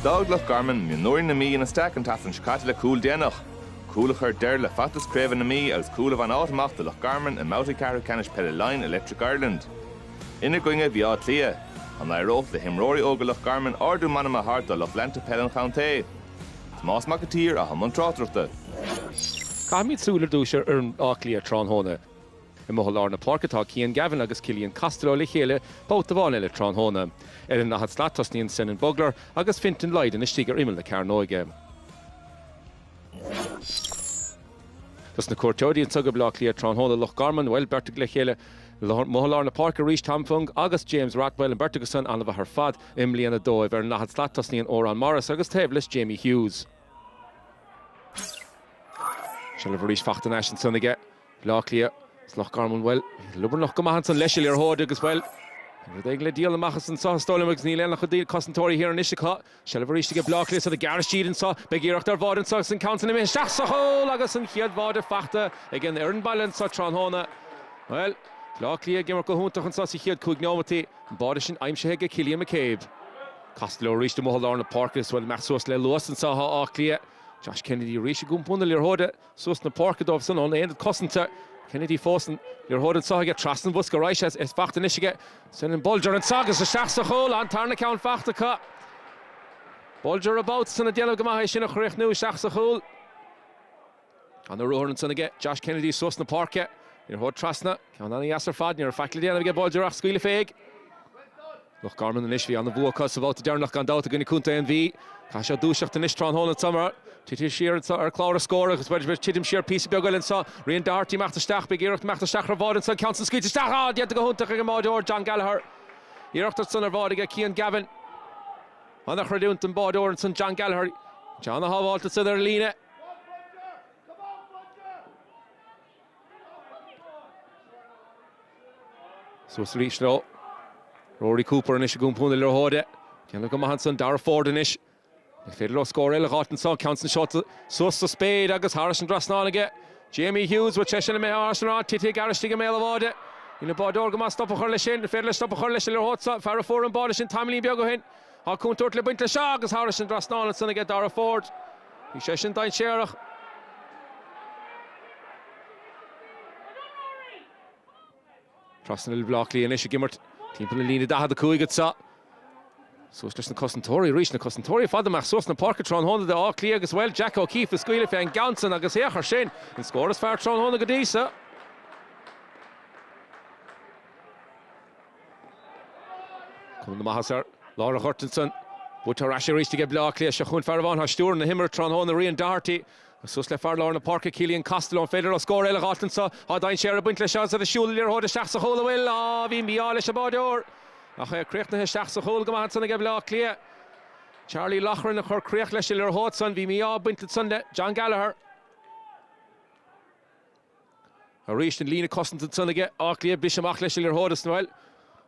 D'fhág Loch Garman mionúirí na Mí ina steaic an tseachtain seo caite le cúl déanach, cúl a chuir deireadh le feachtas craoibhe na Mí agus cúl a bhain áit amach do Loch Garman i mbabhtaí ceathrú ceannais peile Laighin Electric Ireland. Ina gcoinne bheadh Áth Cliath. An éireoidh le himreoirí óga Loch Garman ardú meanma a thabhairt do lucht leanta peile an chontae? Tomás Mac an tSaoir, a bhí i mbun tráchtaireachta. Caithfimid súil ar dtús ar fhoireann Átha Cliath tráthnóna. Amuigh i lár na páirce atá Cian Gavin agus Cillian Costello le chéile babhta amháin eile tráthnóna. Ar an ndaichead slat tosnaíonn Senan Bolger agus Fintan Lydon istigh ar imeall na cearnóige. Dos na cuairteoirí anseo go Baile Átha Cliath tráthnóna, Loch Garman, bhuel, beirt acu le chéile amuigh i lár na páirce arís, Tom Fung agus James Rothwell, an bheirt acu san an-mhaith ar fad i mbliana dóibh. Ar an ndaichead slat tosnaíonn Odhrán Morris agus taobh leis Jamie Hughes. Seilbh arís fachta thar n-ais ansan aige. Bleá Cliath, as Loch Garman, bhuel, bhí siad beagáinín go maith ansan leis a liathróid agus, bhuel, bhí rud éigin le bualadh amach as anso is dóigh liom agus níl aon loch a d'iarr cosantóirí thiar anois acu. Seilbh arís aige Bleá Cliath i ngearr istigh anso, beidh iarracht ar bháide anso agus an ceann san imithe isteach sa chúl agus an chéad bháide fachta ag an fhoireann baile anso tráthnóna. Bhuel, Bleá Cliath ag imirt go hiontach anso sa chéad cúig neomataí, an báide sin aimsithe aige Cillian McCabe. Casadh leo arís amuigh i lár na páirce agus, bhuel, ag imeacht suas le luas anso atá Áth Cliath. Josh Kennedy arís i mbun na liathróide. Suas na páirce dóibh ón aonad cosanta. Kennedy fós sa liathróid anso aige. Trasna an bhosca ar aghaidh sé is fachta anois aige Senan Bolger anso agus isteach sa chúl. An tarna ceann fachta acu. Bolger an babhta san ag déanamh go maith é sin a chríochnú isteach sa chúl. An-ruathar ansan aige Josh Kennedy suas na páirce. Liathróid trasna. Ceann an-dheas ar fad. Ní raibh faic le déanamh aige Bolger ach scaoileadh fé. Ach Loch Garman anois. Bhí an-bhua acu sa bhabhta deireanach gan dabht i gcoinne Contae na Mí. Caithfidh siad dúiseacht anois tráthnóna ansan mar táid titithe siar anseo ar chlár na scór agus b'fhéidir ag titim siar píosa beag eile anseo. Rian Doherty ag imeacht isteach. Beidh iarracht imeacht isteach ar an mbáide anseo. Ceann san scaoilte isteach. Á! Déanta go hiontach ag an mbáideoir John Gallagher. Iarracht ansan ar bháide aige Cian Gavin. An-chreidiúint don báideoir ansan John Gallagher. An ceann a shábháilt ansan ar an líne. Suas arís leo. Rory Cooper anois i mbun na liathróide. Déanamh go maith ansan. Darragh Forde anois. An féidir leo scór eile a dh'fháilt anso. Ceann san seolta suas sa spéir agus thar an dtrasnán aige. Jamie Hughes, bhuel, é sin imithe thairis an ráille. Titfidh gearr istigh i mbéal a' bháide. Dhein an báideoir go maith stop a chur leis sin. An féidir leis stop a chur leis an liathróid seo? Fear a fuair an báide sin tamaillín beag ó shin. Tá contúirt ag baint leis seo agus thar an dtrasnán ansan aige Darragh Forde. Bhí sé sin dainséarach. Tosnaíonn Bleá Cliath anois ag imirt timpeall na líne 45 anseo. Suas leis na cosantóirí arís, na cosantóirí i bhfad amach suas na páirce tráthnóna do Áth Cliath agus bhuel Jack O'Keeffe ag scaoileadh fé an gceann san agus féach ar sin, an scór is fearr tráthnóna go dtí seo. Cuma na maitheas air. Lár an ghoirt ansan. Buaite ar ais aríst aige Bleá Cliath. Seo chugainn fear a bhainfeadh stiúir na himeartha tráthnóna, Rian Doherty. Agus suas le fear lár na páirce, Cillian Costello an féidir leo scór eile a dh'fháilt anso. Tá dainséar ag baint leis seo agus iad ag siúl an liathróid isteach sa chúl. An bhfuil? Á, bhí mí-ádh leis an báireoir. Ach é críochnaithe isteach sa chúl go maith ansan aige Bleá Cliath. Charlie Loughran a chuir críoch leis an liathróid san. Bhí mí-ádh ag baint ansan le John Gallagher. Arís an líne cosanta ansan aige, Áth Cliath, Briseadh amach leis idir Thóir is Noel.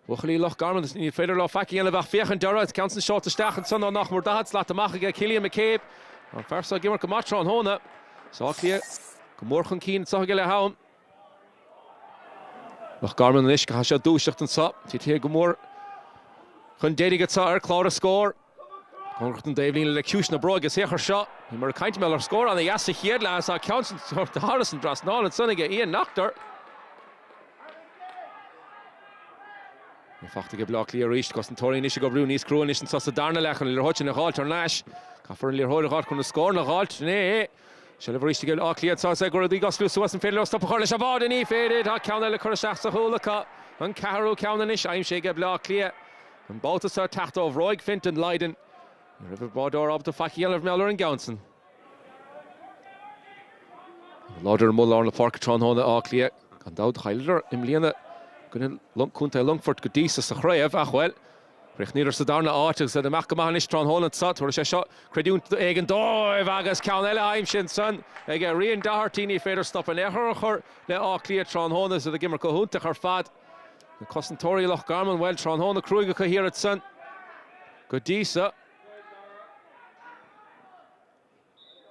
Buachaillí Loch Garman, ní féidir leo faic a dhéanamh ach féach an deireadh, ceann san seolta isteach ansan ó nach mór 40 slat amach aige, Cillian McCabe, an fear seo ag imirt go maith tráthnóna. Is Áth Cliath go mór chun cinn anseo aige le ham. Loch Garman anois go háirithe ag dúiseacht anseo, titfidh sé go mór chun deiridh anseo ar chlár a scór. Cóngarach don dtaobhlíne le ciumhais na bróige saothar seo. Ní mór caint a mbeadh ar scór ana dheas sa chéad leath is á ceann san sa dara. Thairis an trasnáil ansan aige Ian Nachter. Í fachta aige Bleá Cliath arís. Cos na Tóraíne anois ag oibriú níos crua anois anso sa darna leath chun a liathróid sin a dh'fháilt thar n-ais. Caithfear an liathróid a dh'fháilt chun an scóranna a dh'fháilt. Ghné. Seilbh arís aige Bleá Cliath anso is é go raibh daoibh á shluaistiú as an féidir leo stop a chur leis an bhád ach ní féidir. Tá ceann eile curtha isteach sa chúl acu. An ceathrú ceann anois aimsithe ag Bleá Cliath. An babhta seo, teacht ó bhróig Fintan Lydon, ní raibh an báireoir ábalta faic a dhéanamh mar gheall ar an gceann san. Bhí siad láidir amuigh lár na páirce tráthnóna in Áth Cliath. Gan dabht, chailleadar i mbliana i gcoinne Contae Longfoirt go dtí so sa chraobh ach, bhuel, chríochnaíodar sa darna áit agus iad ag imirt go maith anois tráthnóna anseo. Tabharfaidh sé seo creidiúint éigin dóibh agus ceann eile aimsithe ansan ag Ryan Doherty. Ní féidir stop in aon chor a chur le Áth Cliath tráthnóna. Is iad ag imirt go hiontach ar fad. Na cosantóirí Loch Garman, bhuel, tráthnóna cruaidh acu thiar ansan go dtí so.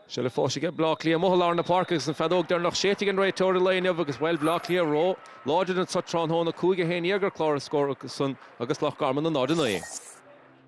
Seo le fáis aige, Bleá Cliath amuigh i lár na páirce agus an feadóg deireanach séidte ag an réiteoir i lae inniu agus, bhuel, Bleá Cliath róláidir anso tráthnóna, 5 a haon iar ar chlár na scór acu san agus Loch Garman 0 9.